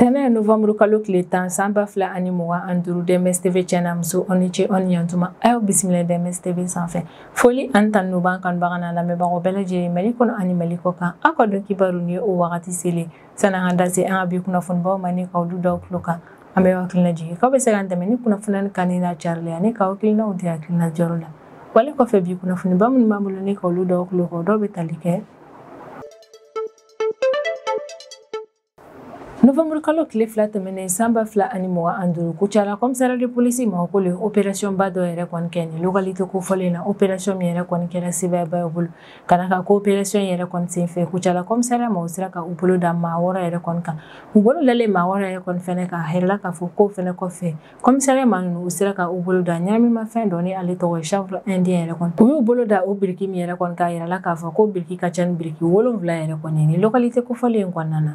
tɛnɛ novanburu kalo tile tan san ba fila ani mugan an duuru dms tv cɛ n'a muso aw ni ce aw ni yantuma a y'aw bisimila dms tv sanfɛ foli ani tanu b'an kanubaga n'an lamɛnbagaw bɛɛ lajɛlen mali kɔnɔ ani mali kɔ kan aw ka don kibaru nin ye o wagati selen sani an ka da se an ka bi kunnafonibaw ma ni ka olu d'aw tulo kan an b'aw hakili lajigin k'aw bɛ se k'an dɛmɛ ni kunnafoni kanuni n'a carili ani ka hakilinaw di hakilina diyɔrɔ la wale kɔfɛ bi kunnafoniba minnu b'an bolo ni ka olu d'aw tulo kan o dɔw bɛ tali kɛ novembre kalo tile fila tɛmɛnen san ba fila ani mugan an duuru kucala kɔmisariya de polisi maaw k'olu ye operasiyɔnba dɔ yɛrɛ kɔni kɛ nin localité kofɔlen na operasiyɔn min yɛrɛ kɔni kɛra sebaayaba ye u bolo ka da a kan ko opération yɛrɛ kɔni sen fɛ kucala kɔmisariya maaw sera ka u bolo da maa wɔɔrɔ yɛrɛ kɔni kan u bolo dalen maa wɔɔrɔ yɛrɛ kɔni fɛnɛ kan a yirala k'a fɔ k'o fɛnɛ kɔfɛ kɔmisariya maa ninnu u sera ka u bolo da ɲɛnaminimafɛn dɔ ni ale tɔgɔ ye chanvre indien yɛrɛ kɔni u y'u bolo da o biriki min yɛrɛ kɔni kan a yirala k'a fɔ ko biriki ka ca ni biriki wolonfila yɛrɛ kɔni nin localité kofɔlen kɔnɔna na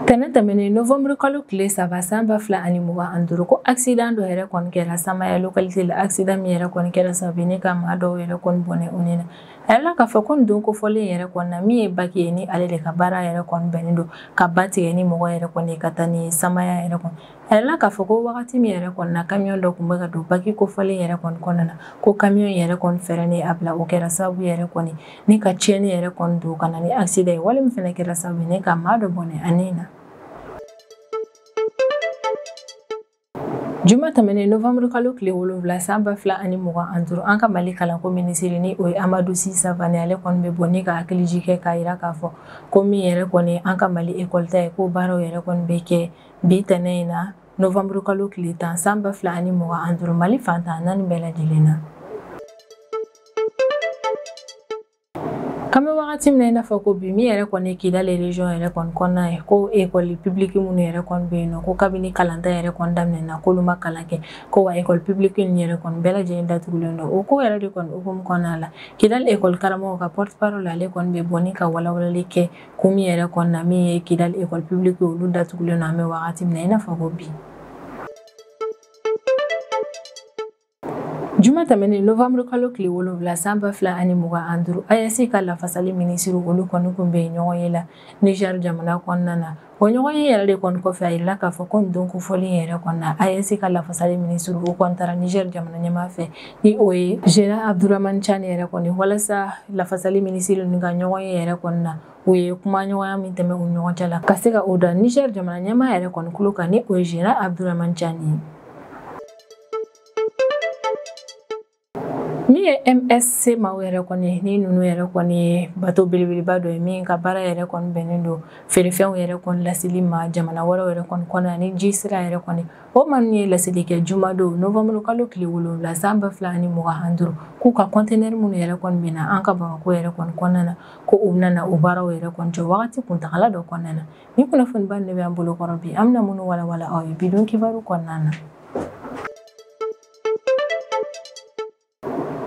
tɛnɛ tɛmɛnen novembre kalo tile saba san ba fila ani mugan ani duuru ko accident dɔ yɛrɛ kɔni kɛra samaya localité la accident min yɛrɛ kɔni kɛra sababu ni ka maa dɔw yɛrɛ kɔni bɔnɛ u ni na a yirala k'a fɔ ko nin don kofɔlen yɛrɛ kɔni na min ye baki ye ni ale de ka baara yɛrɛ kɔni bɛnnen don ka ba tigɛ ni mɔgɔ yɛrɛ kɔni ka taa ni samaya yɛrɛ kɔni a yirala k'a fɔ ko wagati min yɛrɛ kɔni na kamiyon dɔ tun bɛ ka don baki kofɔlen yɛrɛ kɔni kɔnɔna na ko kamiyon yɛrɛ kɔni fɛrɛn y'a bila o kɛra sababu yɛrɛ kɔni ni ka tiɲɛni yɛrɛ kɔni don ka na ni accident ye wale min fana kɛra sababu ye ni ka maa dɔ bɔnɛ a ni na juma tɛmɛnen novembre kalo tile wolonwula san ba fila ani mugan an duuru an ka mali kalanko minisiri ni o ye amadu si savane ale kɔni bɛ bɔ ni ka hakilijigin kɛ k'a yira k'a fɔ ko min yɛrɛ kɔni an ka mali ekɔli ta ye ko baaraw yɛrɛ kɔni bɛ kɛ bi tɛnɛ in na novembre kalo tile tan san ba fila ani mugan an duuru mali fan tan naani bɛɛ lajɛlen na an bɛ wagati min na i n'a fɔ ko bi min yɛrɛ kɔni ye kidali region yɛrɛ kɔni kɔnɔna ye ko ekɔli publiki minnu yɛrɛ kɔni bɛ yen nɔ ko kabini kalanta yɛrɛ kɔni daminɛna k'olu ma kalan kɛ ko wa ekɔli publiki ninnu yɛrɛ kɔni bɛɛ lajɛlen datugulen don o ko yɛrɛ de kɔni hukumu kɔnɔna la kidali ekɔli karamɔgɔw ka porte parole ale kɔni bɛ bɔ ni ka walawalali kɛ ko min yɛrɛ kɔni na min ye kidali ekɔli publiki olu datugulen don an bɛ wagati min na i n'a fɔ ko bi juma tɛmɛnen novamburu kalo tile wolonwula san ba fila ani mugan an duuru aes ka lafasali minisiri olu kɔni kun bɛ ɲɔgɔn ye la niger jamana kɔnɔna na o ɲɔgɔn ye yɛrɛ de kɔni kɔfɛ a yirala k'a fɔ ko nin don kofɔlen yɛrɛ kɔni na aes ka lafasali minisiriw kɔni taara niger jamana ɲɛmaa fɛ ni o ye general abduraman tiani yɛrɛ kɔni walasa lafasali minisiri ninnu ka ɲɔgɔn ye yɛrɛ kɔni na u ye kumaɲɔgɔnya min tɛmɛ u ɲɔgɔn cɛ la ka se ka o da niger jamana ɲɛmaa yɛrɛ kɔni kulo kan ni o ye general abduraman tiani ye min ye msc maaw yɛrɛ kɔni ye ni ninnu yɛrɛ kɔni ye bato belebeleba dɔ ye min ka baara yɛrɛ kɔni bɛnnen don feerefɛnw yɛrɛ kɔni laseli ma jamana wɛrɛw yɛrɛ kɔni kɔnɔna ni ji sira yɛrɛ kɔni o maa ninnu ye laseli kɛ jumadon novanburu kalo tile wolonwula san ba fila ani mugan ani duuru k'u ka kɔntenɛri minnu yɛrɛ kɔni bɛ na an ka bamakɔ yɛrɛ kɔni kɔnɔna na ko u bɛna o baaraw yɛrɛ kɔni jɔ wagati kuntagala dɔ kɔnɔna na ni kunnafoniba de bɛ an bolo kɔrɔ bi an bɛna minnu walawala aw ye bidon kibaru kɔnɔna na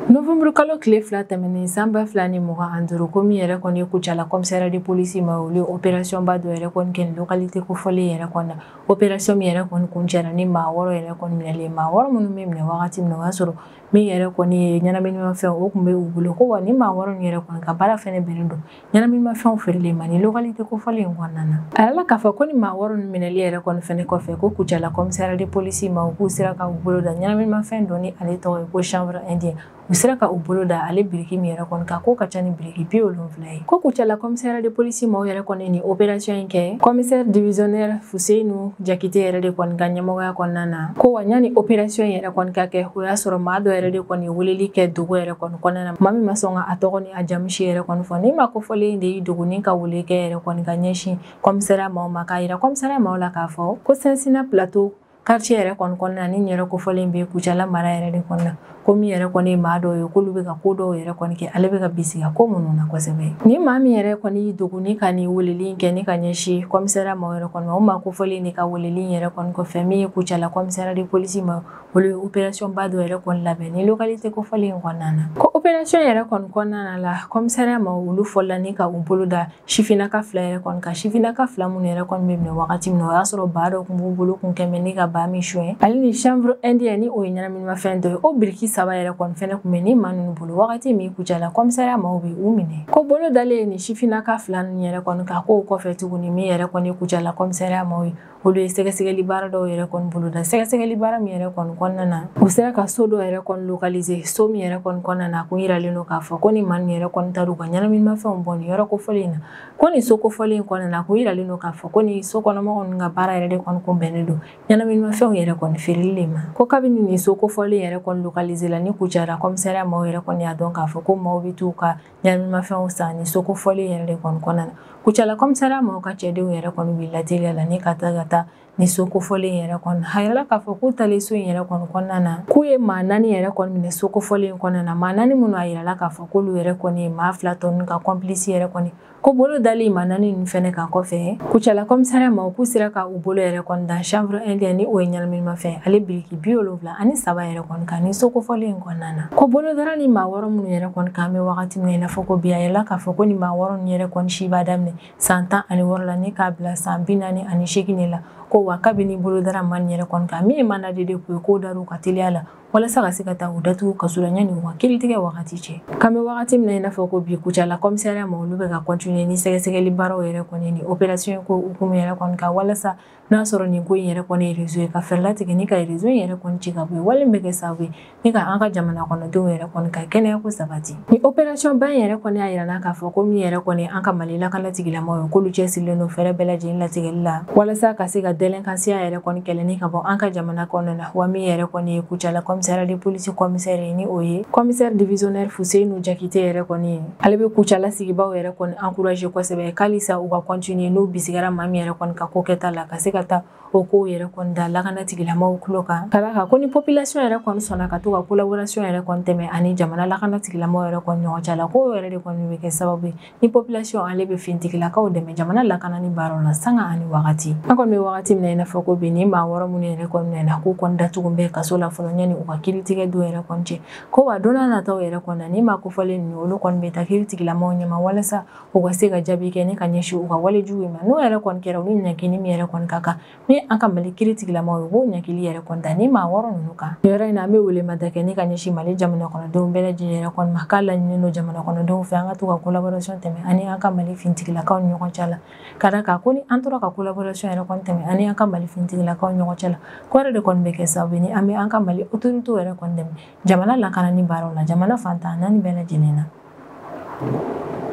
novembre kalo tile fila tɛmɛnen san ba fila ni mugan ani duuru ko min yɛrɛ kɔni ye kucala kɔmisariya de polisi maaw olu operasiyɔn ba dɔ yɛrɛ kɔni kɛ lokalite kofɔlen yɛrɛ kɔni na operasiyɔn min yɛrɛ kɔni kuncɛra ni maa wɔɔrɔ yɛrɛ kɔni minɛlen maa wɔɔrɔ minnu bɛ minɛ wagati min na o y'a sɔrɔ min yɛrɛ kɔni ye ɲɛnaminimafɛn o tun bɛ u bolo ko wa ni maa wɔɔrɔ min yɛrɛ kɔni ka baara fɛnɛ bɛnnen don ɲɛnaminimafɛnw feereli ma ni lokalite kofɔlen in kɔnɔna na a yirala k'a fɔ ko ni maa wɔɔrɔ ninnu minɛli yɛrɛ kɔni fɛnɛ kɔfɛ ko kucala kɔmisariya de polisi maaw k'u sera ka u bolo da ɲɛnaminimafɛn dɔ ni ale tɔgɔ ye ko chanvre indien u sera ka u bolo da ale biriki min yɛrɛ kɔni kan k'o ka ca ni biriki bi wolonfila ye ko kucala kɔmisariya de polisi maaw yɛrɛ kɔni ni operasiyɔn in kɛ kɔmisɛri divisiyɔnɛri fuseyinu jakite yɛrɛ de kɔni ka ɲɛmɔgɔya kɔnɔna na ko wa yanni operasiyɔn yɛrɛ kɔni ka kɛ o y'a sɔrɔ maa dɔ yɛrɛ de kɔni ye weleli kɛ dogo yɛrɛ kɔni kɔnɔna na maa min ma sɔn ka a tɔgɔ ni a jamu si yɛrɛ kɔni fɔ ni maa kofɔlen de y'i dogo ni ka wele kɛ yɛrɛ kɔni ka ɲɛsin kɔmisariya maaw ma k'a yira kɔmisariya maaw la k'a fɔ ko sɛnsina plateau quartier yɛrɛ kɔni kɔnɔna ni yɔrɔ kofɔlen bɛ kucala mara yɛrɛ de kɔnɔna ko min yɛrɛ kɔni ye maa dɔw ye k'olu bɛ ka ko dɔw yɛrɛ kɔni kɛ ale bɛ ka bisiga ko minnu na kosɛbɛ ni maa min yɛrɛ kɔni y'i dogo ni ka nin weleli kɛ ni ka ɲɛsin kɔmisariya maaw yɛrɛ kɔni ma o maa kofɔlen de ka weleli yɛrɛ kɔni kɔfɛ min ye kucala kɔmisariya de polisi maaw olu ye opɛrasiyɔnba dɔ yɛrɛ kɔni labɛn ni lokalite kofɔlen in kɔnɔna na ko opɛrasiyɔn yɛrɛ kɔni kɔnɔna la kɔmisariya maaw olu fɔla ni ka u bolo da sifinnaka fila yɛrɛ kɔni kan sifinnaka fila minnu yɛrɛ kɔni bɛ minɛ wagati min na o y'a sɔrɔ baa dɔ tun b'u bolo kun kɛmɛ ni ka baa min suɲɛ ale ni chanvre indien ni o ye ɲɛnaminimafɛn dɔ ye o biriki saba yɛrɛ kɔni fɛnɛ tun bɛ ni maa ninnu bolo wagati min kucala kɔmisariya maaw bɛ u minɛ ko bolo dalen ye nin sifinnaka fila ninnu yɛrɛ kɔni kan k'o kɔfɛ tuguni min yɛrɛ kɔni kucala kɔmisariya maaw ye olu ye sɛgɛsɛgɛli baara dɔw yɛrɛ kɔni boloda sɛgɛsɛgɛli baara min yɛrɛ kɔni kɔnɔna na u sera ka so dɔ yɛrɛ kɔni localiser so min yɛrɛ kɔni kɔnɔna na kun yiralen don k'a fɔ ko nin maa nin yɛrɛ kɔni taara u ka ɲɛnaminimafɛnw bɔ nin yɔrɔ kofɔlen in na ko nin so kofɔlen in kɔnɔna na kun yiralen don k'a fɔ ko nin so kɔnɔmɔgɔw ninnu ka baara yɛrɛ de kɔni kun bɛnnen don ɲɛnaminimafɛnw yɛrɛ kɔni feereli de ma ko kabini nin so kofɔlen yɛrɛ kɔni localiser la ni kucala kɔmisariya maaw yɛrɛ kɔni y'a dɔn k'a fɔ ko maaw bɛ t'u ka ɲɛnaminimafɛnw san ni so kofɔlen yɛrɛ de kɔni kɔnɔna na kucala kɔmisariya maaw ka cɛdenw yɛrɛ kɔni wulila teliya la ni ka taa ka taa ni so kofɔlen yɛrɛ kɔnɔ a yirala k'a fɔ k'u taalen so in yɛrɛ kɔni kɔnɔna na k'u ye maa naani yɛrɛ kɔni minɛ so kofɔlen in kɔnɔna na maa naani minnu a yirala k'a fɔ k'olu yɛrɛ kɔni ye maa fila tɔ ninnu ka kɔnpilisi yɛrɛ kɔni ko bolo dalen maa naani ninnu fɛnɛ kan kɔfɛ kucala kɔmisariya maaw k'u sera ka u bolo yɛrɛ kɔni da chanvre indien ni o ye ɲɛnaminimafɛn ale biriki bi wolonwula ani saba yɛrɛ kɔni kan ni so kofɔlen in kɔnɔna na ko bolo dara ni maa wɔɔrɔ minnu yɛrɛ kɔni kan bɛ wagati min na i n'a fɔ ko bi a yirala k'a fɔ ko ni maa wɔɔrɔ ninnu yɛrɛ kɔni si b'a daminɛ san tan ani wɔɔrɔ la ni k'a bila san bi naani ani seegin de la ko wa kabini bolo dara maa nin yɛrɛ kɔni kan min ye mandat de dépôt ye k'o dar'u kan teliya la walasa ka se ka taa u datugu kaso la yanni u ka kiritigɛ wagati cɛ k'an bɛ wagati min na i n'a fɔ ko bi kucala kɔmisariya maaw olu bɛ ka kɔntiniye ni sɛgɛsɛgɛli baaraw yɛrɛ kɔni ni operasiɔn ko hukumu yɛrɛ kɔni kan walasa n'a sɔrɔ nin ko in yɛrɛ kɔni ye rezo ye ka fɛɛrɛ latigɛ ni ka rezo in yɛrɛ kɔni ci ka bɔ yen wale min bɛ kɛ sababu ye ni ka an ka jamana kɔnɔdenw yɛrɛ kɔni ka kɛnɛya ko sabati ni operasiyɔn ba in yɛrɛ kɔni y'a yira an na k'a fɔ ko min yɛrɛ kɔni ye an ka mali lakana tigilamɔgɔw ye k'olu cɛsirilen don fɛɛrɛ bɛɛ lajɛlen latigɛli la walasa ka se ka dɛlɛnkansiya yɛrɛ kɔni kɛlɛ ni ka bɔ an ka jamana kɔnɔna na wa min yɛrɛ kɔni ye kucala kɔmisariya de polisi kɔmisɛri ye ni o ye kɔmisɛri divisionɛri fuseni jakite yɛrɛ kɔni ye ale bɛ kucala sigibaaw yɛrɛ kɔni encourager kosɛbɛ k'alisa u ka continuer n'u bisigara maa min yɛrɛ kɔni ka ko kɛta la ka se ka taa o kow yɛrɛ kɔni da lakana tigilamaw tulo kan ka d'a kan ko ni population yɛrɛ kɔni sɔnna ka to ka collaboration yɛrɛ kɔni tɛmɛ ani jamana lakana tigilamaw yɛrɛ kɔni ɲɔgɔn cɛ la k'o yɛrɛ de kɔni bɛ kɛ sababu ye ni population ale bɛ fintigilakaw dɛmɛ jamana lakanani baaraw la sanga ani wagati an kɔni bɛ wagati min na i n'a fɔ ko bi ni maa wɔɔrɔ minnu yɛrɛ kɔni nana k'u kɔni datugu bɛ kaso la fɔlɔ yanni u ka kiritigɛ don yɛrɛ kɔni cɛ ko wa don nataw yɛrɛ kɔni na ni maa kofɔlen ninnu olu kɔni bɛ taa kiri tigilamɔgɔw ɲɛma walasa u ka se ka jaabi kɛ ni ka ɲɛsin u ka walejugu ma n'o yɛrɛ kɔni kɛra u ni ɲangili min yɛrɛ kɔni ka kan ni an ka mali kiri tigilamɔgɔw ye u b'o ɲangili yɛrɛ kɔni da ni maa wɔɔrɔ ninnu kan nin yɔrɔ in na an bɛ welemada kɛ ni ka ɲɛsin mali jamana kɔnɔdenw bɛɛ lajɛlen yɛrɛ kɔni ma k'a laɲininen don jamana kɔnɔdenw fɛ an ka to ka collaboration tɛmɛ ani an ka mali fintigilakaw ni ɲɔgɔn cɛ la ka d'a kan ko ni an tora ka collaboration yɛrɛ kɔni tɛmɛ ani an ka mali finitigilakaw ni ɲɔgɔn cɛ la k'o yɛrɛ de kɔni bɛ kɛ sababu ye ni an bɛ an ka mali autoritew yɛrɛ kɔni dɛmɛ jamana lakanani baaraw la jamana fan tan ni naani bɛɛ lajɛlen na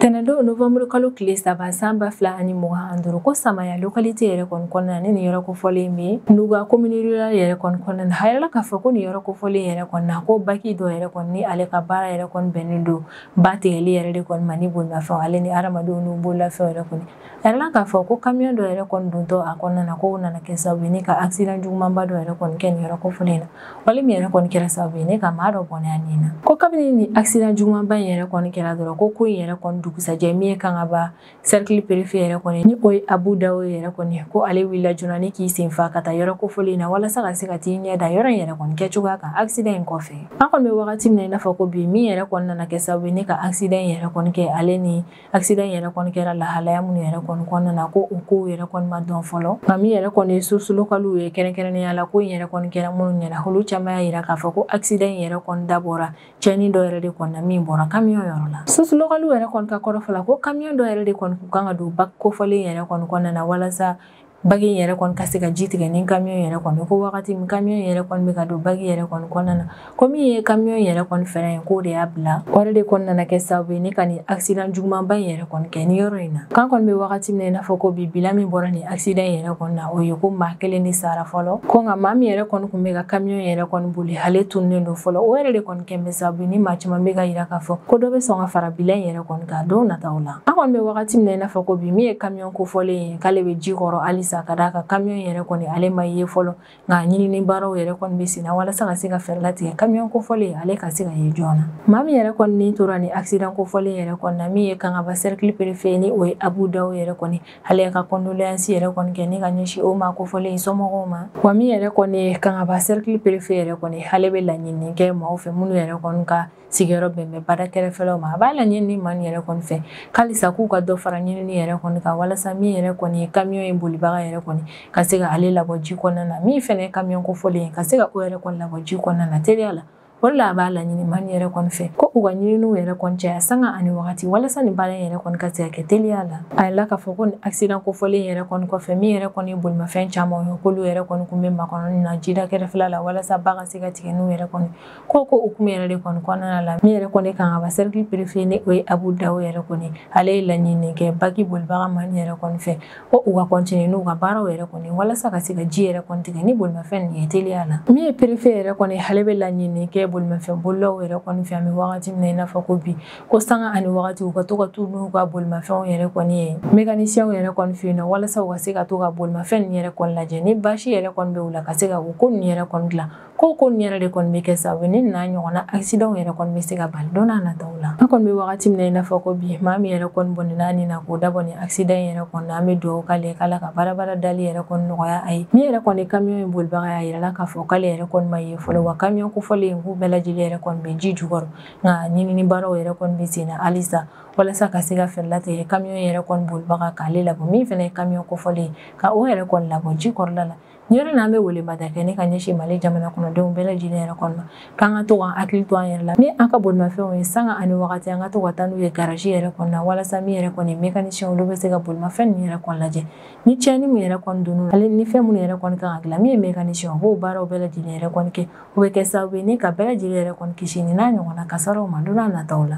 tɛnɛndon novembre kalo tile saba san ba fila ani mugan ani duuru ko samaya lokalite yɛrɛ kɔni kɔnɔna na ni nin yɔrɔ kofɔlen bɛ nuga komini rural yɛrɛ kɔni kɔnɔna na a yirala k'a fɔ ko nin yɔrɔ kofɔlen yɛrɛ kɔni na ko baki dɔ yɛrɛ kɔni ni ale ka baara yɛrɛ kɔni bɛnnen don ba tigɛli yɛrɛ de kɔni ma ni bolimafɛnw ale ni hadamadenw n'u bololafɛnw yɛrɛ kɔni a yirala k'a fɔ ko kamiyon dɔ yɛrɛ kɔni dontɔ a kɔnɔna na k'o nana kɛ sababu ye ni ka accident jugumanba dɔ yɛrɛ kɔni kɛ nin yɔrɔ kofɔlen in na wale min yɛrɛ kɔni kɛra sababu ye ni ka maa dɔ bɔnɛ a nin na ko kabini nin accident jugumanba in yɛrɛ kɔni kɛra dɔrɔn ko ko in yɛrɛ kɔni dugusajɛ min ye kangaba Cercle préfet yɛrɛ kɔni ni o ye Abu Dawo yɛrɛ kɔni ko ale wulila joona ni k'i sen fa ka taa yɔrɔ kofɔlen in na walasa ka se ka t'i ɲɛ da yɔrɔ in yɛrɛ kɔni kɛcogoya kan accident in kɔfɛ. An kɔni bɛ wagati min na i n'a fɔ ko bi min yɛrɛ kɔni nana kɛ sababu ye ni ka accident in yɛrɛ kɔni kɛ ale ni accident in yɛrɛ kɔni kɛra lahalaya minnu yɛrɛ kɔni kɔnɔna na ko o kow yɛrɛ kɔni ma dɔn fɔlɔ nka min yɛrɛ kɔni ye sources locales ye kɛrɛnkɛrɛnnenya la ko in yɛrɛ kɔni kɛra minnu ɲɛna olu caman y'a yira k'a fɔ ko accident in yɛrɛ kɔni dabɔra cɛnni dɔ yɛrɛ de kɔni na min bɔra kamiyɔn yɔrɔ la sources locales yɛrɛ kɔni ka kɔrɔfɔ la ko kamiyɔn dɔ yɛrɛ de kɔni kun kan ka don baki kofɔlen yɛrɛ kɔni kɔnɔna na walasa baki in yɛrɛ kɔni ka se ka ji tigɛ ni kamiyɔn yɛrɛ kɔni ko wagati min kamiyɔn yɛrɛ kɔni bɛ ka don baki yɛrɛ kɔni kɔnɔna na ko min ye kamiyɔn yɛrɛ kɔni frein ye k'o de y'a bila o yɛrɛ de kɔni nana kɛ sababu ye ni ka nin accident jugumanba in yɛrɛ kɔni kɛ ni yɔrɔ in na k'an kɔni bɛ wagati min na i n'a fɔ ko bi bilan min bɔra nin accident yɛrɛ kɔni na o ye ko maa kelen de sara fɔlɔ ko nka maa min yɛrɛ kɔni kun bɛ ka camion yɛrɛ kɔni boli ale tununen don fɔlɔ o yɛrɛ de kɔni kɛn bɛ sababu ye ni maa caman bɛ ka yira k'a fɔ ko dɔ bɛ sɔn ka fara bilan in yɛrɛ kɔni kan don nataw la an kɔni bɛ wagati min na i n'a fɔ ko bi min ye camion kofɔlen ye k'ale bɛ ji kɔrɔ halisa ka d'a kan camion yɛrɛ kɔni ale ma ye fɔlɔ nka ɲinini baaraw yɛrɛ kɔni bɛ senna walasa ka se ka fɛɛrɛ latigɛ kamiyɔn kofɔlen ale ka se ka ye joona maa min yɛrɛ kɔni ni tora nin accident kofɔlen yɛrɛ kɔni na min ye kangaba cercle préfet ni o ye abu dawo yɛrɛ kɔni ale y'a ka condoléance yɛrɛ kɔni kɛ ni ka ɲɛsin o maa kofɔlen in somɔgɔw ma wa min yɛrɛ kɔni ye kangaba cercle préfet yɛrɛ kɔni ale bɛ laɲini kɛ maaw fɛ minnu yɛrɛ kɔni ka sigiyɔrɔ bɛn bɛ bada kɛrɛfɛlaw ma a b'a laɲini maa nin yɛrɛ kɔni fɛ halisa k'u ka dɔ fara ɲinini yɛrɛ kɔni kan walasa min yɛrɛ kɔni ye kamiyɔn in bolibaga yɛrɛ kɔni ka se ka ale labɔ ji kɔnɔna na min fɛnɛ ye kamiyɔn kofɔlen ye ka se ka o yɛrɛ kɔni labɔ ji kɔnɔna na teliya la o de la a b'a laɲini maa nin yɛrɛ kɔni fɛ ko u ka ɲininiw yɛrɛ kɔni caya sanga ani wagati walasa nin baara yɛrɛ kɔni ka se ka kɛ teliya la a yirala k'a fɔ ko nin accident kofɔlen yɛrɛ kɔni kɔfɛ min yɛrɛ kɔni ye bolimafɛn caman ye k'olu yɛrɛ kɔni kun bɛ makɔnɔni na jida kɛrɛfɛla la walasa ba ka se ka tigɛ n'u yɛrɛ kɔni ko k'o hukumu yɛrɛ de kɔni kɔnɔna la min yɛrɛ kɔni kangaba cercle préfet ni o ye abu dawo yɛrɛ kɔni ale ye laɲini kɛ baki bolibaga maa nin yɛrɛ kɔni fɛ ko u ka continuer n'u ka baaraw yɛrɛ kɔni walasa ka se ka ji yɛrɛ kɔni tigɛ ni bolimafɛn nin ye teliya la min ye préfet yɛrɛ kɔni ale bɛ laɲini kɛ bolimafɛn bolilaw yɛrɛ kɔni fɛ an bɛ wagati min na i n'a fɔ ko bi ko sanga ani wagati u ka to ka taa n'u ka bolimafɛnw yɛrɛ kɔni ye mécaniciens yɛrɛ kɔni fɛ yen nɔ walasa u ka se ka to ka bolimafɛn nin yɛrɛ kɔni lajɛ ni basi yɛrɛ kɔni bɛ u la ka se ka u ko nin yɛrɛ kɔni dilan ko ko nin yɛrɛ de kɔni bɛ kɛ sababu ni n'a ɲɔgɔnna accident yɛrɛ kɔni bɛ se ka bali don n'a nataw la an kɔni bɛ wagati min na i n'a fɔ ko bi maa min yɛrɛ kɔni bɔnɛna a ni na k'o dabɔ nin accident yɛrɛ kɔni na an bɛ dugawu k'ale ye k'ala ka baarabara dali yɛrɛ kɔni nɔgɔya a ye min yɛrɛ kɔni kamiyon in bolibaga y'a yirala k'a fɔ k'ale yɛrɛ kɔni ma ye fɔlɔ wa kamiyon kofɔlen in k'u bɛɛ lajɛlen yɛrɛ kɔni bɛ ji jukɔrɔ nka ɲinini baaraw yɛrɛ kɔni bɛ sen na halisa walasa ka se ka fɛɛrɛ latigɛ kamiyon yɛrɛ kɔni bolibaga k'ale labɔ min fana ye kamiyon kofɔlen ka o yɛrɛ kɔni labɔ ji kɔrɔla la Yɔrɔ n'an bɛ welemada kɛ ni ka ɲɛsin mali jamana kɔnɔdenw bɛɛ lajɛlen yɛrɛ kɔni ma k'an ka to k'an hakili to an yɛrɛ la ni an ka bolimafɛnw ye sanga ani wagati an ka to ka taa n'u ye garaji yɛrɛ kɔnɔ walasa min yɛrɛ kɔni mécaniciens olu bɛ se ka bolimafɛn ninnu yɛrɛ kɔni lajɛ ni tiɲɛni min yɛrɛ kɔni donn'u la ale ni fɛn minnu yɛrɛ kɔni kan ka dilan min ye mécaniciens b'o baaraw bɛɛ lajɛlen yɛrɛ kɔni kɛ o bɛ kɛ sababu ye ni ka bɛɛ lajɛlen yɛrɛ kɔni kisi ni n'a ɲɔgɔnna kasaraw ma don n'a nataw la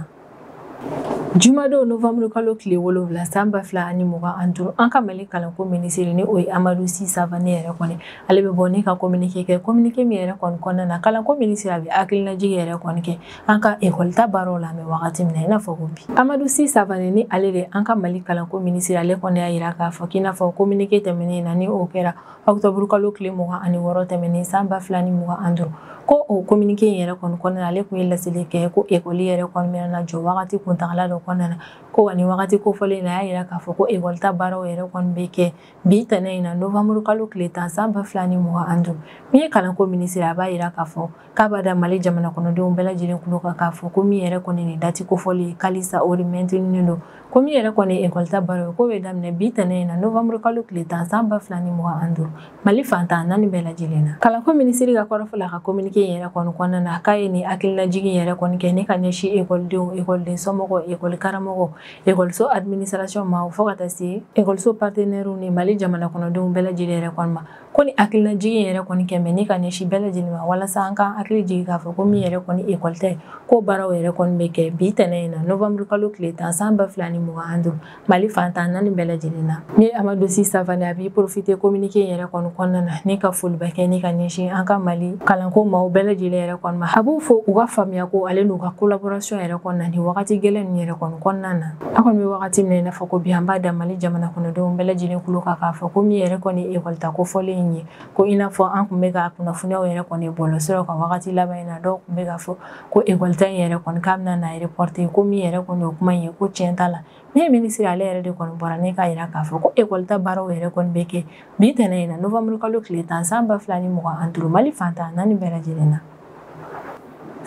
Jumadon novanburukalo tile wolonwula san ba fila ani mugan an duuru an ka mali kalanko minisiri ni o ye amadu si savane yɛrɛ kɔni ale bɛ bɔ ne ka kominike kɛ kominike min yɛrɛ kɔni kɔnɔna na kalanko minisiri a bɛ hakilinajigi yɛrɛ kɔni kɛ an ka ekɔlita baaraw la an bɛ wagati min na i n'a fɔ ko bi amadu si savane ni ale de an ka mali kalanko minisiri ale kɔni y'a yira k'a fɔ k'i n'a fɔ kominike tɛmɛnen na ni o kɛra ɔkutɔburukalo tile mugan ani wɔɔrɔ tɛmɛnen san ba fila ni mugan an duuru ko o kominike in yɛrɛ kɔni kɔnɔna na ale tun ye laseli kɛ ko ekɔli yɛrɛ kɔni bɛna na jɔ wagati kuntagala dɔ kɔnɔna na ko wa ni wagati kofɔlen na a y'a yira k'a fɔ ko ekɔlita baaraw yɛrɛ kɔni bɛ kɛ bi tɛnɛ in na novanburukalo tile tan san ba fila ni mugan an duuru min ye kalanko minisiri a b'a yira k'a fɔ k'a b'a da mali jamana kɔnɔdenw bɛɛ lajɛlen tulo kan k'a fɔ ko min yɛrɛ kɔni nin dati kofɔlen ye k'alisa o mɛntininen don ko min yɛrɛ kɔni ye ekɔlita baaraw ye k'o bɛ daminɛ bi tɛnɛ in na novanburukalo tile tan san ba fila ni mugan an duuru mali fantan naani bɛɛ lajɛlen na kalanko minisiri ka kɔrɔfɔ la ka kominike in yɛrɛ kɔni kɔnɔna na k'a ye nin hakilinajigi yɛrɛ kɔni kɛ ne ka ɲɛsin ekɔlidenw ekɔliden somɔgɔw ekɔli karamɔgɔw ekɔliso administration ma fo ka taa se ekɔliso partenɛriw ni mali jamana kɔnɔdenw bɛɛ lajɛlen yɛrɛ kɔni ma ko nin hakilinajigi yɛrɛ kɔni kɛ mɛ ne ka ɲɛsin bɛɛ lajɛlen ma walasa an ka hakili jigin k'a fɔ ko min yɛrɛ kɔni ekɔlita ye ko baaraw yɛrɛ kɔni bɛ kɛ bi tɛnɛn in na novanburukalo tile tan san ba fila ni mugan an duuru mali fantan naani bɛɛ lajɛlen na ne amadu si savane a b'i porofite kominike yɛrɛ kɔni kɔnɔna na ne ka foliba kɛ ne ka ɲɛsin an ka mali kalanko maaw bɛɛ lajɛlen yɛrɛ kɔni ma a b'u fo u ka faamuya ko ale n'u ka kolaborasɔn yɛrɛ kɔni na nin wagati gɛlɛn ninnu yɛrɛ kɔni kɔnɔna na an kɔni bɛ wagati min na i n'a fɔ ko bi an b'a da mali jamana kɔnɔdenw bɛɛ lajɛlen kulo kan k'a fɔ ko min yɛrɛ kɔni ye ekɔlita kofɔlen in ye ko i n'a fɔ an tun bɛ ka kunnafoniyaw yɛrɛ kɔni bɔlɔsiraw kan wagati laban in na dɔw tun bɛ k'a fɔ ko ekɔlita in yɛrɛ kɔni k'a bɛna na reporte ko min yɛrɛ kɔni o kuma in ye ko tiɲɛ t'a la ne ye minisiri ale yɛrɛ de kɔni bɔra ne k'a yira k'a fɔ ko ekɔlita baaraw yɛrɛ kɔni bɛ kɛ bi tɛnɛ in na novanburukalo tile tan san ba fila ni mugan an duuru mali fantan naani bɛɛ lajɛlen na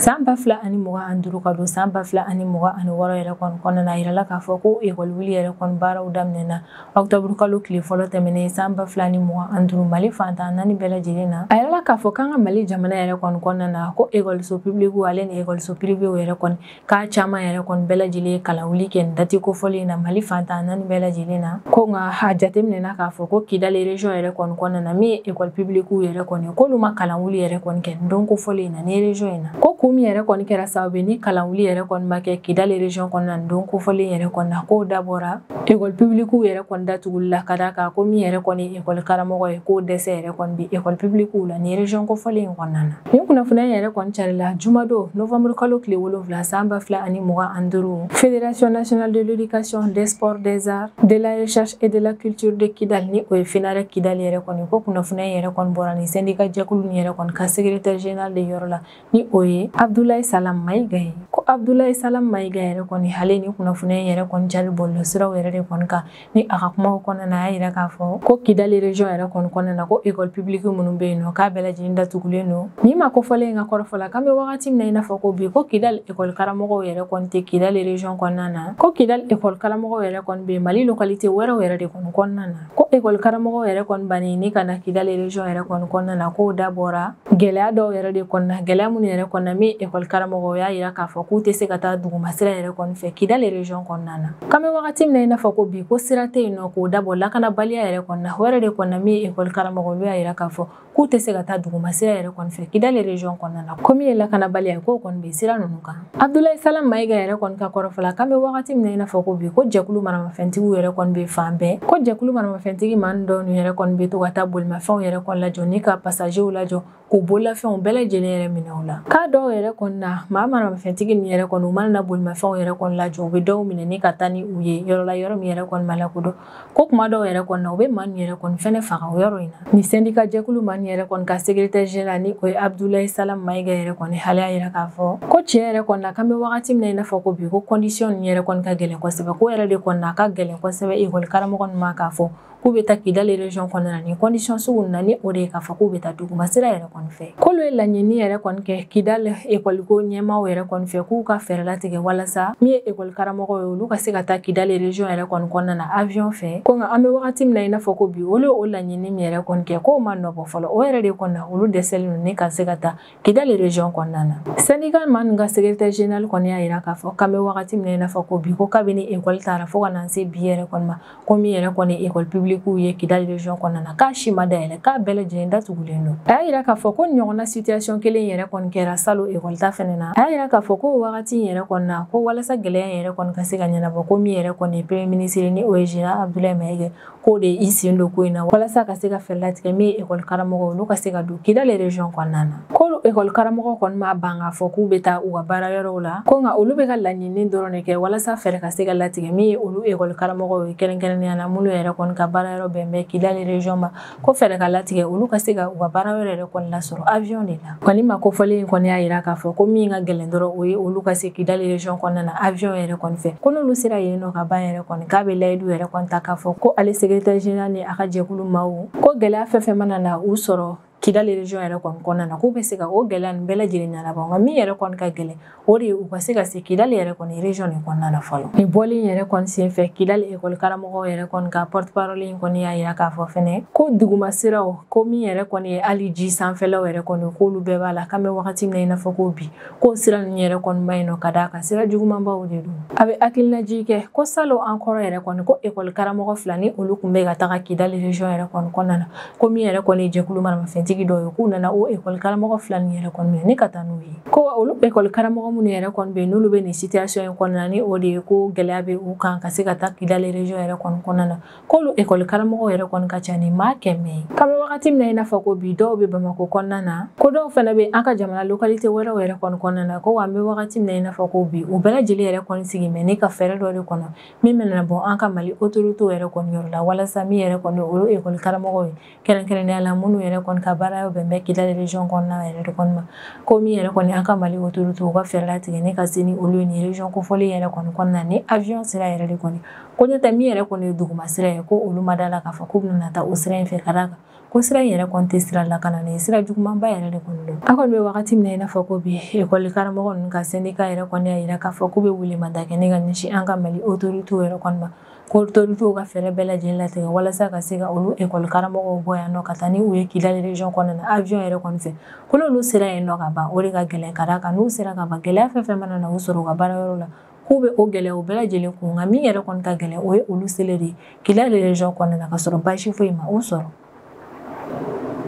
san ba fila ani mugan an duuru ka don san ba fila ani mugan ani wɔɔrɔ yɛrɛ kɔni kɔnɔna na a yirala k'a fɔ ko ekɔliwuli yɛrɛ kɔni baaraw daminɛna ɔkutɔburukalo tile fɔlɔ tɛmɛnen san ba fila ni mugan an duuru mali fantan naani bɛɛ lajɛlen na a yirala k'a fɔ k'an ka mali jamana yɛrɛ kɔni kɔnɔna na ko ekɔliso pibiliku ale ni ekɔliso pirivew yɛrɛ kɔni k'a caman yɛrɛ kɔni bɛɛ lajɛlen ye kalanwuli kɛ nin dati kofɔlen na mali fantan naani bɛɛ lajɛlen na ko nka a jateminɛna k'a fɔ ko kidali region yɛrɛ kɔni kɔnɔna na min ye ekɔli pibilikiw yɛrɛ kɔni k'olu ma kalanwuli yɛrɛ kɔni kɛ nin don kofɔlen in na ni region in na ko kun min yɛrɛ kɔni kɛra sababu ye ni kalanwuli yɛrɛ kɔni ma kɛ kidali region kɔnɔna nin don kofɔlen yɛrɛ kɔni na k'o dabɔra ekɔli pibilikiw yɛrɛ kɔni datuguli la ka d'a kan ko min yɛrɛ kɔni ye ekɔli karamɔgɔ ye k'o dɛsɛ yɛrɛ kɔni bi ekɔli pibilikiw la ni region kofɔlen in kɔnɔna na nin kunnafoniya in yɛrɛ kɔni carila jumadon novembre kalo tile wolonfila san ba fila ani mugan ani duuru fédération nationale de l'éducation des sports des arts de la recherche et de la culture de kidal ni o ye fenarec kidal yɛrɛ kɔni ko kunnafoniya in yɛrɛ kɔni bɔra ni syndicat jɛkulu nin yɛrɛ kɔni ka secrétaire général de yɔrɔ la ni o ye abdoulaye salam mayiga ye ko abdoulaye salam mayiga yɛrɛ kɔni ale ni kunnafoniya in yɛrɛ kɔni cari bɔlɔlɔsiraw yɛrɛ de kɔni kan ni a ka kumaw kɔnɔna na a y'a yira k'a fɔ ko kidali région yɛrɛ kɔni kɔnɔna na ko école publique minnu bɛ yen nɔ k'a bɛɛ lajɛlen datugulen don nin maa kofɔlen in ka kɔrɔfɔ la k'an bɛ wagati min na i n'a fɔ ko bi ko kidali école karamɔgɔw yɛrɛ kɔni tɛ kidali région kɔnɔna na ko kidali école karamɔgɔw yɛrɛ kɔni bɛ mali localité wɛrɛw yɛrɛ de kɔni kɔnɔna na ko école karamɔgɔw yɛrɛ kɔni banni ni ka na kidali région yɛrɛ kɔni kɔnɔna na k'o dabɔra gɛlɛya dɔw yɛrɛ de kɔni na gɛlɛya minnu yɛrɛ kɔni na min ye ekɔli karamɔgɔ y'a yira k'a fɔ k'u tɛ se ka taa dugumasira yɛrɛ kɔni fɛ kidali région kɔnɔna na k'an bɛ wagati min na i n'a fɔ ko bi ko sira tɛ yen nɔ k'o dabɔ lakanabaliya yɛrɛ kɔni na o yɛrɛ de kɔni na min ekɔli karamɔgɔ olu y'a yira k'a fɔ k'u tɛ se ka taa dugumasira yɛrɛ kɔni fɛ kidali région kɔnɔna na ko min ye lakanabaliya ye k'o kɔni bɛ sira ninnu kan Abdulayi Salam Mayiga yɛrɛ kɔni ka kɔrɔfɔ la k'an bɛ wagati min na i n'a fɔ ko bi ko jɛkulu maramafɛntigiw yɛrɛ kɔni bɛ fan bɛɛ ko jɛkulu maramafɛntigi maa dɔw ninnu yɛrɛ kɔni bɛ to ka taa bolimafɛnw yɛrɛ kɔni lajɔ ni ka pasajew lajɔ k'u bololafɛnw bɛɛ lajɛlen yɛrɛ minɛ u la k'a dɔw yɛrɛ kɔni na maa maramafɛntigi ninnu yɛrɛ kɔni u mana na bolimafɛnw yɛrɛ kɔni lajɔ u bɛ dɔw minɛ ni ka taa ni u ye yɔrɔ la yɔrɔ min yɛrɛ kɔni ma lakodɔn ko kuma dɔw yɛrɛ kɔni na u bɛ maa ninnu yɛrɛ kɔni fɛnɛ faga o yɔrɔ in na nin syndicat jɛkulu maa ninnu yɛrɛ kɔni ka secrétaire général ni o ye abdulayi salam mayiga yɛrɛ kɔni ale y'a yira k'a fɔ ko tiɲɛ yɛrɛ kɔni na k'an bɛ wagati min na i n'a fɔ ko bi ko kɔndisiyɔn nin yɛrɛ kɔni ka gɛlɛn kosɛbɛ k'o yɛrɛ de kɔni na a ka gɛlɛn kosɛbɛ ekɔli karamɔgɔ ninnu ma k'a fɔ k'u bɛ taa kidali région kɔnɔna na nin kɔndisiyɔn sugu na ni o de ye k'a fɔ k'u bɛ taa duguma sira yɛrɛ kɔni fɛ k'olu ye laɲini yɛrɛ kɔni kɛ kidali ekɔliko ɲɛmaaw yɛrɛ kɔni fɛ k'u ka fɛɛrɛ latigɛ walasa min ye ekɔli karamɔgɔ ye olu ka se ka taa kidali région yɛrɛ kɔni kɔnɔna na avion fɛ ko nka an bɛ wagati min na i n'a fɔ ko bi olu ye o laɲini min yɛrɛ kɔni kɛ k'o ma nɔbɔ fɔlɔ o yɛrɛ de kɔni na olu dɛsɛlen don ni ka se ka taa kidali région kɔnɔna na syndicat maa ninnu ka secrétaire général kɔni y'a yira k'a fɔ k'an bɛ wagati min na i n'a fɔ ko bi ko kabini ekɔli tara fo ka na se bi yɛrɛ kɔni ma ko min yɛrɛ kɔni ye ekɔli pibilikiw ye kidali région kɔnɔna na k'a si ma dayɛlɛ k'a bɛɛ lajɛlen datugulen don a y'a yira k'a fɔ k'o ɲɔgɔnna situation kelen yɛrɛ kɔni kɛra salon ekɔli ta fɛnɛ na a y'a yira k'a fɔ ko wagati in yɛrɛ kɔni na ko walasa gɛlɛya yɛrɛ kɔni ka se ka ɲɛnabɔ ko min yɛrɛ kɔni ye premier ministre ni o ye général abdoulaye maiga k'o de ye i sen don ko in na walasa ka se ka fɛɛrɛ latigɛ min ye ekɔli karamɔgɔ olu ka se ka don kidali région kɔnɔna na k'olu ekɔlikaramɔgɔ kɔni ma ban k'a fɔ k'u bɛ taa u ka baara yɔrɔw la ko nka olu bɛ ka laɲini dɔrɔn de kɛ walasa fɛɛrɛ ka se ka latigɛ min ye olu ekɔlikaramɔgɔw ye kɛrɛnkɛrɛnnenya na minnu yɛrɛ kɔni ka baara yɔrɔ bɛn bɛ kidali région ma ko fɛɛrɛ ka latigɛ olu ka se ka u ka baara yɔrɔ yɛrɛ kɔni lasɔrɔ avion de la ko nin maa kofɔlen in kɔni y'a yira k'a fɔ ko min ka gɛlɛn dɔrɔn o ye olu ka se kidali région kɔnɔna na avion yɛrɛ kɔni fɛ ko n'olu sera yen nɔ ka ban yɛrɛ kɔni k'a bɛ layidu yɛrɛ kɔni ta k'a fɔ ko ale secrétaire général ni a ka jɛkulu maaw ko gɛlɛya fɛn fɛn mana na u sɔrɔ kidali region yɛrɛ kɔni kɔnɔna na k'u bɛ se ka o gɛlɛya nin bɛɛ lajɛlen ɲɛnabɔ nka min yɛrɛ kɔni ka gɛlɛn o de ye u ka se ka se kidali yɛrɛ kɔni region nin kɔnɔna na fɔlɔ nin bɔli in yɛrɛ kɔni senfɛ kidali ekɔli karamɔgɔw yɛrɛ kɔni ka porte parole in kɔni y'a yira k'a fɔ fɛnɛ ko duguma siraw ko min yɛrɛ kɔni ye hali ji sanfɛlaw yɛrɛ kɔni k'olu bɛɛ b'a la k'an bɛ wagati min na i n'a fɔ ko bi ko sira nin yɛrɛ kɔni man ɲi nɔ ka d'a kan sira jugumanbaw de don a bɛ hakilinajigin kɛ ko salon encore yɛrɛ kɔni ko ekɔli karamɔgɔ fila ni olu tun bɛ ka taga kidali region yɛrɛ kɔni kɔnɔna na ko min yɛrɛ kɔni ye jɛkulu maramafɛntigi dɔw ye k'u nana o ekɔli karamɔgɔ fila nin yɛrɛ kɔni minɛ ni ka taa n'u ye ko olu ekɔli karamɔgɔ minnu yɛrɛ kɔni bɛ yen n'olu bɛ nin situation in kɔnɔna ni o de ye ko gɛlɛya bɛ u kan ka se ka taa kidali region yɛrɛ kɔni kɔnɔna na k'olu ekɔli karamɔgɔw yɛrɛ kɔni ka ca ni maa kɛmɛ ye k'an bɛ wagati min na i n'a fɔ ko bi dɔw bɛ bamako kɔnɔna na ko dɔw fana bɛ an ka jamana lokalite wɛrɛw yɛrɛ kɔni kɔnɔna na ko wa an bɛ wagati min na i n'a fɔ ko bi u bɛɛ lajɛlen yɛrɛ kɔni sigilen bɛ ne ka fɛɛrɛ dɔ de kɔnɔ min bɛna bɔ an ka mali otoritew yɛrɛ kɔni yɔrɔ la walasa min yɛrɛ kɔni o ye ekɔli karamɔgɔw ye kɛrɛnkɛrɛnnenya la minnu yɛrɛ kɔni ka baara yɔrɔ bɛn bɛ kidali region kɔnɔna yɛrɛ de kɔni ma ko min yɛrɛ kɔni an ka mali autorité u ka fɛɛrɛ latigɛ ne ka se ni olu ye nin region kofɔlen yɛrɛ kɔni kɔnɔna ni avion sira yɛrɛ de kɔni ko n'o tɛ min yɛrɛ kɔni ye duguma sira ye ko olu ma da la k'a fɔ k'u bɛna taa o sira in fɛ ka d'a kan ko sira in yɛrɛ kɔni tɛ sira lakananen ye sira jugumanba yɛrɛ de kɔni don an kɔni bɛ wagati min na i n'a fɔ ko bi ekɔli karamɔgɔ ninnu ka sendika yɛrɛ kɔni y'a yira k'a fɔ k'u bɛ welemada kɛ ne ka ɲɛsin an ka mali autorité yɛrɛ kɔni ma ko otoritew ka fɛɛrɛ bɛɛ lajɛlen latigɛ walasa ka se ka olu ekɔli karamɔgɔw bɔ yan nɔ ka taa ni u ye kidali region kɔnɔna na avion yɛrɛ kɔni fɛ ko n'olu sera yen nɔ ka ban o de ka gɛlɛn ka d'a kan n'u sera ka ban gɛlɛya fɛn fɛn mana na u sɔrɔ u ka baara yɔrɔ la k'u bɛ o gɛlɛyaw bɛɛ lajɛlen kun nka min yɛrɛ kɔni ka gɛlɛn o ye olu seli de ye kidali region kɔnɔna na ka sɔrɔ baasi foyi ma u sɔrɔ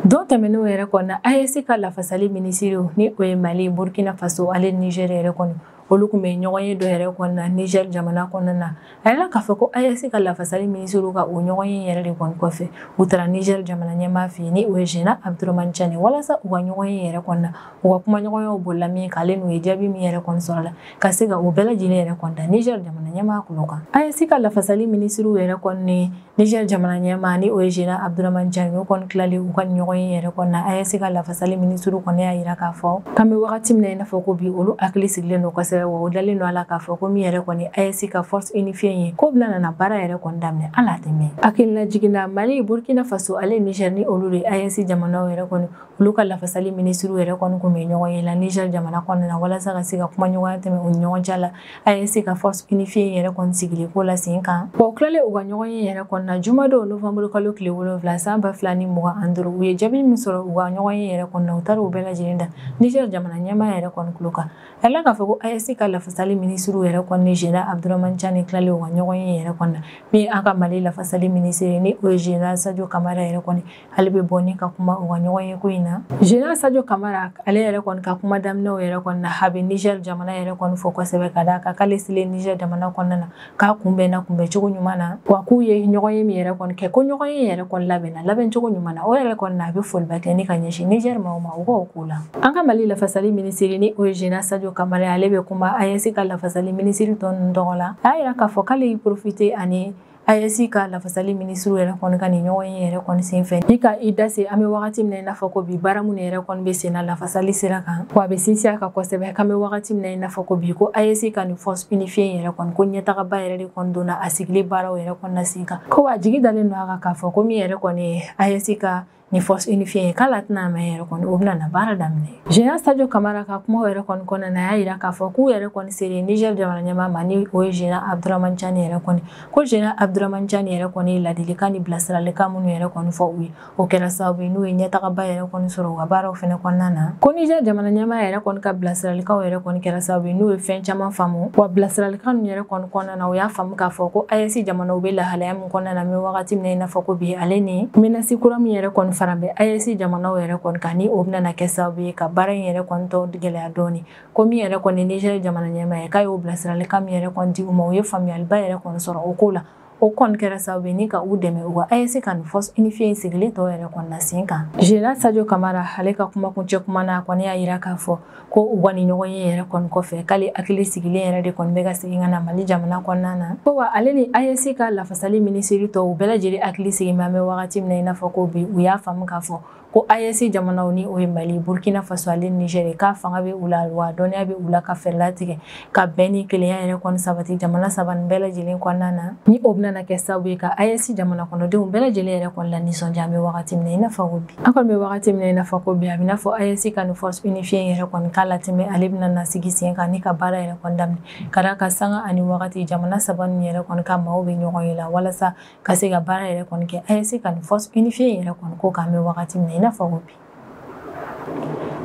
Don tɛmɛnenw yɛrɛ kɔni na AES ka lafasali minisiriw ni o ye mali burukina faso ale niger yɛrɛ kɔni olu tun bɛ ɲɔgɔn ye dɔ yɛrɛ kɔni na niger jamana kɔnɔna na a yirala k'a fɔ ko AES ka lafasali minisiriw ka o ɲɔgɔn ye yɛrɛ de kɔni kɔfɛ u taara niger jamana ɲɛmaa fɛ yen ni o ye général abdourahamane tiani walasa u ka ɲɔgɔn ye yɛrɛ kɔni na u ka kumaɲɔgɔnyaw bolila min kan ale n'u ye jaabi min yɛrɛ kɔni sɔrɔ la ka se ka u bɛɛ lajɛlen yɛrɛ kɔni da niger jamana ɲɛmaa tulo kan AES ka lafasali minisiriw yɛrɛ kɔni Niger jamana ɲɛmaa ni o ye Général Abdourahamane Tiani, o kɔni tilalen u ka nin ɲɔgɔn ye yɛrɛ kɔni na, AES ka lafasali minisiriw kɔni y'a yira k'a fɔ k'an bɛ wagati min na i n'a fɔ ko bi, olu hakili sigilen don kosɛbɛ wa u dalen don a la k'a fɔ ko min yɛrɛ kɔni ye AES ka force unifiée in ye, k'o bɛna nana baara yɛrɛ kɔni daminɛ hali a tɛ mɛɛn. Hakilinajigin na, Mali, Burkina Faso ale Niger ni olu de ye AES jamanaw yɛrɛ kɔni, olu ka lafasali minisiriw yɛrɛ kɔni tun bɛ ɲɔgɔn ye la Niger jamana kɔnɔna na walasa ka se ka kumaɲɔgɔnya tɛmɛ u ni ɲɔgɔn cɛ la AES ka force unifiée yɛrɛ kɔni sigili ko la sen kan wa u tilalen u ka ɲɔgɔn ye yɛrɛ kɔni na jumadon novembre kalo tile wolonwula san ba fila ni mugan ani duuru u ye jaabi min sɔrɔ u ka ɲɔgɔn ye yɛrɛ kɔni na u taara u bɛɛ lajɛlen da niger jamana ɲɛmaa yɛrɛ kɔni tulo kan a la k'a fɔ ko AES ka lafasali minisiriw yɛrɛ kɔni ni général abdourahamane tiani tilalen u ka ɲɔgɔn ye yɛrɛ kɔni na min an ka mali lafasali minisiri ni o ye général sadio kamara yɛrɛ kɔni ale bɛ bɔ ni ka kuma u ka ɲɔgɔn ye ko in na général sadio kamara ale yɛrɛ kɔni ka kuma daminɛw yɛrɛ kɔni na a bɛ niger jamana yɛrɛ kɔni fo kosɛbɛ ka d'a kan k'ale selen niger jamana kɔnɔna na k'a kunbɛnna kunbɛncogo ɲuman na wa k'u ye ɲɔgɔn ye min yɛrɛ kɔni kɛ ko ɲɔgɔn ye yɛrɛ kɔni labɛnna labɛncogo ɲuman na o yɛrɛ kɔni na a bɛ foliba kɛ ni ka ɲɛsin niger maaw ma u k'o k'o la an ka mali lafasali minisiri ni o ye général sadio kamara ale bɛ kuma AES ka lafasali minisiri tɔ ninnu tɔgɔ la a y'a yira k'a fɔ k'ale y'i profite ani AES ka lafasali minisiriw yɛrɛ kɔni ka nin ɲɔgɔn ye yɛrɛ kɔni senfɛ ni ka i da se an bɛ wagati min na i n'a fɔ ko bi baara minnu yɛrɛ kɔni bɛ sen na lafasali sira kan wa a bɛ sinsin a kan kosɛbɛ k'an bɛ wagati min na i n'a fɔ ko bi ko AES ka nin force unifiée in yɛrɛ kɔni ko ɲɛtagaba yɛrɛ de kɔni donna a sigili baaraw yɛrɛ kɔni na sen kan ko wa jigi dalen don a kan k'a fɔ ko min yɛrɛ kɔni ye AES ka nin force unifiée ye k'ale tɛna mɛn yɛrɛ kɔni o bɛna na baara daminɛ général sadio kamara ka kumaw yɛrɛ kɔni kɔnɔna na a y'a jira k'a fɔ k'u yɛrɛ kɔni sere niger jamana ɲɛmaa ma ni o ye général abduraman cani yɛrɛ kɔni ko général abduraman cani yɛrɛ kɔni ye ladilikan ni bilasiralikan minnu yɛrɛ kɔni fɔ u ye o kɛra sababu ye n'u ye ɲɛtagaba yɛrɛ kɔni sɔrɔ u ka baaraw fana kɔnɔna na ko niger jamana ɲɛmaa yɛrɛ kɔni ka bilasiralikanw yɛrɛ kɔni kɛra sababu ye n'u ye fɛn caman faamu wa bilasiralikan ninnu yɛrɛ kɔni kɔnɔ Fana u y'a faamu k'a fɔ ko AES jamanaw bɛ lahalaya min kɔnɔna na an bɛ wagati min na i n'a fɔ ko bi ale ni menace kura min yɛrɛ kɔni fana bɛ AES jamanaw yɛrɛ kɔni kan ni o bɛna kɛ sababu ye ka baara in yɛrɛ kɔni tɔ gɛlɛya dɔɔni ko min yɛrɛ kɔni Niger jamana ɲɛmaa ye k'a y'o bilasiralikan min yɛrɛ kɔni di u ma u ye faamuyaliba yɛrɛ kɔni sɔrɔ o ko la o kɔni kɛra sababu ye ni ka u dɛmɛ u ka AES ka nin force unifiée in sigili tɔ yɛrɛ kɔni na sen kan General Sadio Camara ale ka kumakuncɛ kuma na a kɔni y'a jira k'a fɔ ko u ka nin ɲɔgɔn ye yɛrɛ kɔni kɔfɛ k'ale hakili sigilen yɛrɛ de kɔni bɛ ka segin ka na mali jamana kɔnɔna na ko wa ale ni AES ka lafasali minisiri tɔw u bɛɛ lajɛlen hakili sigin bɛ an bɛ wagati min na i n'a fɔ ko bi u y'a faamu k'a fɔ ko AES jamanaw ni o ye mali burkina faso ale niger k'a fanga bɛ u la wa dɔnniya bɛ u la ka fɛɛrɛ latigɛ ka bɛn ni kelenya yɛrɛ kɔni sabati jamana saba nin bɛɛ lajɛlen kɔnɔna na ni o bɛna kɛ sababu ye ka AES jamana kɔnɔdenw bɛɛ lajɛlen yɛrɛ kɔni lanisɔndiya an bɛ wagati min na i n'a fɔ ko bi an kɔni bɛ wagati min na i n'a fɔ ko bi a bɛ n'a fɔ AES ka nin force unifiée in yɛrɛ kɔni k'ale tɛ mɛn ale bɛna na sigi sen kan ni ka baara yɛrɛ kɔni daminɛ ka d'a kan sanga ani wagati jamana saba nin yɛrɛ kɔni ka maaw bɛ ɲɔgɔn ye la walasa ka se ka baara yɛrɛ kɔni kɛ AES ka nin force unifiée in yɛrɛ kɔni ko k'an bɛ wagati min na i n'a fɔ ko bi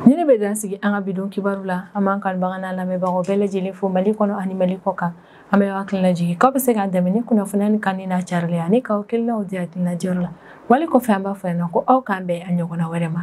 Nin de bɛ dan sigi an ka bi don kibaru la an b'an kanubagaw n'an lamɛnbagaw bɛɛ lajɛlen fo mali kɔnɔ ani mali kɔ kan an b'aw hakili lajigin k'aw bɛ se k'an dɛmɛ ni kunnafoni nin kanuni n'a carili ani k'aw hakilinaw di hakilina diyɔrɔ la wali kɔfɛ an b'a fɔ na ko aw k'an bɛn a ɲɔgɔnna wɛrɛ ma